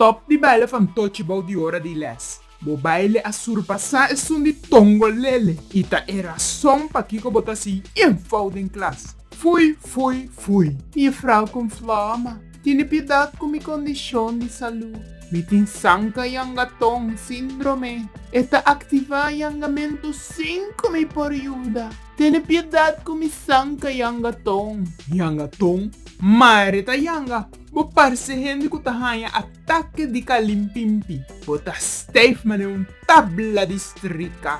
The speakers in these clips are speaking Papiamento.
Stop di baila fantochi bou di ora di les. Bo baile a surpasá esun di tongolele i ta e rason pakiko bo ta hasi info den klas. Fui, fui, fui. Mefrou con Floma, tene piedad cu mi condicion di salud. Mi tin sanka yangaton, síndrome. E ta activá yangamentu sin cu mi por yuda. Tene piedad cu mi sanca yanga ton. Yanga ton, mare ta yanga. Bo parce hende cu ta haña ataque di calimpimpi. Bo ta stijf mane un tabla di strica.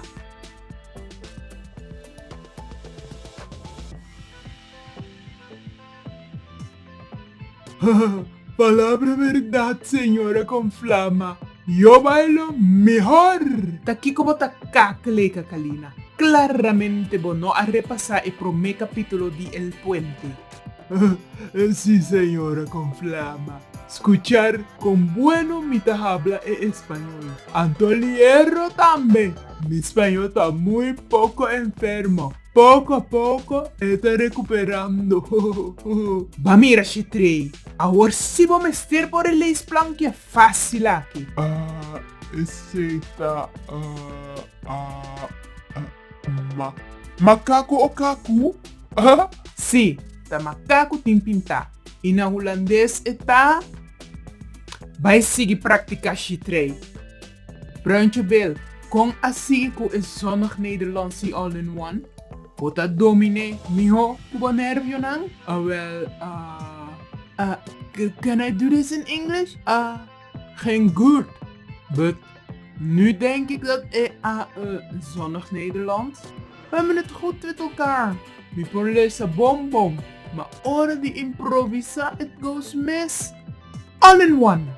Palabra berdad señor a con flama. Yo bailo mehor. Ta kiko bo ta kak lei Kakalina? Claramente bo no a repasa e prome capitulo di El Puente. Si señor a con flama. Scuchar con bueno mi ta habla e español. Anto lierro tambe. Mi spañol ta muy poco enfermo. Poco a poco e ta recuperando. Ba mira Shetrey, awor si bo mester por e leisplan ki a facil aki. Ah, esey ta ma. Macacu o cacu? Ah? Si, ta macacu tin pinta. Y na Hulandes e ta? Bay sigui practica Shetrey. Bruintje Bill, Kon a sigui ku e zonnig Nederlandsi all in one? Bo ta dominé mihó ku bo nervionan? Awèl, ah, ah, can I do this in English? Ah, geen gurt. But, nu denk ik dat e a e zonnig Nederlands. Wen mi nit gud wit elkaar. Mi por lesa bon bon, ma ora di improvisá it goes mis. All in one!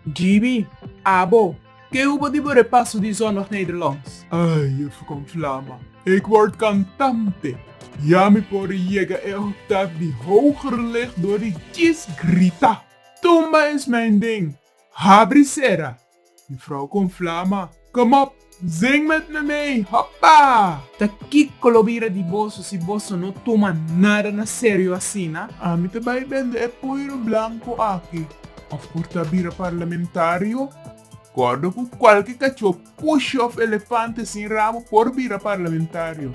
JB, Abo, ke ubo di bo repaso di zondag Nederlands? Ai, e Fukon Flama, ik word kantante! Ya mi por yega e oktaf di hoger lig dor di djis grita, Tumba en smijn ding! Habri sera! Di Frou Kon Flama. Come up, zing met me mee, hoppa! Ta kiko lo bira di boso si boso no tuma nada na serio asina? Ami ta bai bende e poiro blanco aki, of por ta bira parlamentario? Cordo cu cualke cachó push of elefante sin rabo por bira parlamentario.